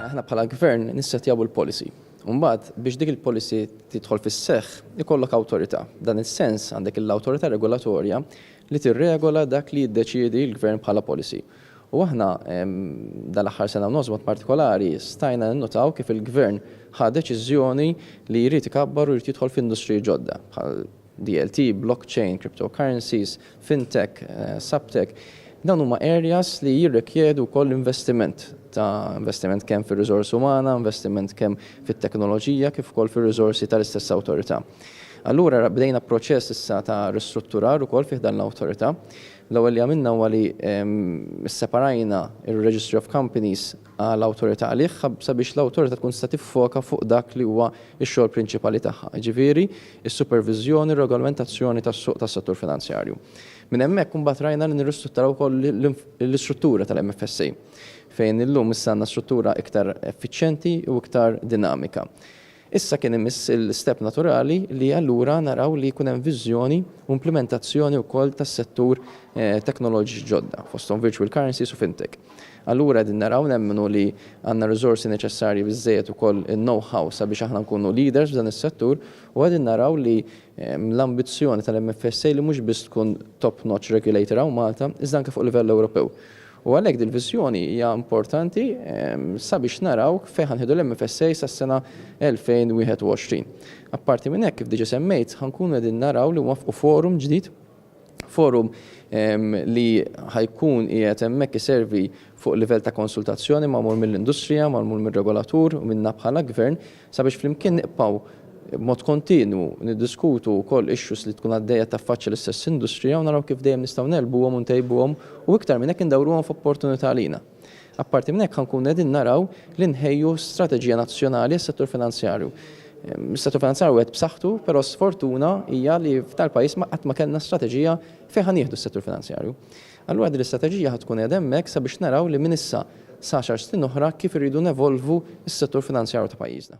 Aħna bħala gvern nissetjaw il-policy. Umbagħad biex dik il-policy tidħol fis-seħħ ikollok awtorità. F'dan is-sens għandek l-awtorità regolatorja li tirregola dak li jiddeċiedi l-gvern bħala policy. U aħna dal-aħħar sena u nofs mod partikolari stajna ninnutaw kif il-gvern ħa deċiżjoni li jrid ikabbar u jrid jidħol f'industriji ġodda bħal DLT, blockchain, cryptocurrencies, fintech, subtech, dawn huma areas li jirrikjedu wkoll investiment ta' investiment kemm fir-riżors umana, investiment kemm fit-teknoloġija kif ukoll fir-riżorsi tal-istess Awtorità. Allura bdejna proċess issa ta' ristrutturar ukoll fi ħdan l-Awtorità. L-ewwel li għamilna huwa li sseparajna r-Registry of Companies, għal awtorità għalih sabiex l-awtorità tkun tista' tiffoka fuq dak li huwa x-xogħol prinċipali tagħha, jiġifieri s-superviżjoni u r-regolamentazzjoni tas-suq tas-settur finanzjarju. Minn hemmhekk imbagħad rajna li nirristrutturaw ukoll l-istruttura tal-MFSA fejn illum issa għandna struttura iktar effiċjenti u iktar dinamika. Issa kien imiss l-istep naturali li allura naraw li jkun hemm viżjoni u implimentazzjoni wkoll tas-settur teknoloġiċi ġodda, fosthom virtual currencies u fintech. Allura qegħdin naraw nemmnu li għandna r-riżorsi neċessarji biżżejjed ukoll in-know-how sabiex aħna nkunu leaders f'dan is-settur u qegħdin naraw li l-ambizzjoni tal-MFSA li mhux biss tkun top-notch regulator hawn Malta iżda anke fuq livell Ewropew. U għalhekk dil-viżjoni hija importanti sabiex naraw fejn ħa nieħdu l-MFSA sas-sena 2021. Apparti minn hekk, kif diġa semmejt, ħa nkunu qegħdin naraw li nwaffqu forum ġdid, forum li ħa jkun qiegħed hemmhekk iservi fuq livell ta' konsultazzjoni magħmul mill-industrija, magħmul mir-regolatur u minna bħala Gvern, Sabiex flimkien nibqgħu b'mod kontinwu niddiskutu wkoll issues li tkun għaddejja taffaċċja l-istess industrija u naraw kif dejjem nistgħu negħlbuhom u ntejbuhom u iktar minn hekk indawruhom f'opportunità għalina. Apparti minn hekk ħa nkunu qegħdin naraw li nħejju strateġija nazzjonali għas-settur finanzjarju. Is-settur finanzjarju qiegħed b'saħħtu, però sfortuna hija li f'dal-pajjiż ma qatt ma kellna strateġija fejn ħa nieħdu s-settur finanzjarju. Allura din l-istrateġija ħa tkun qiegħda hemmhekk sabiex naraw li minn issa sa għaxar snin oħra kif irridu nevolvu s-settur finanzjarju ta' pajjiżna.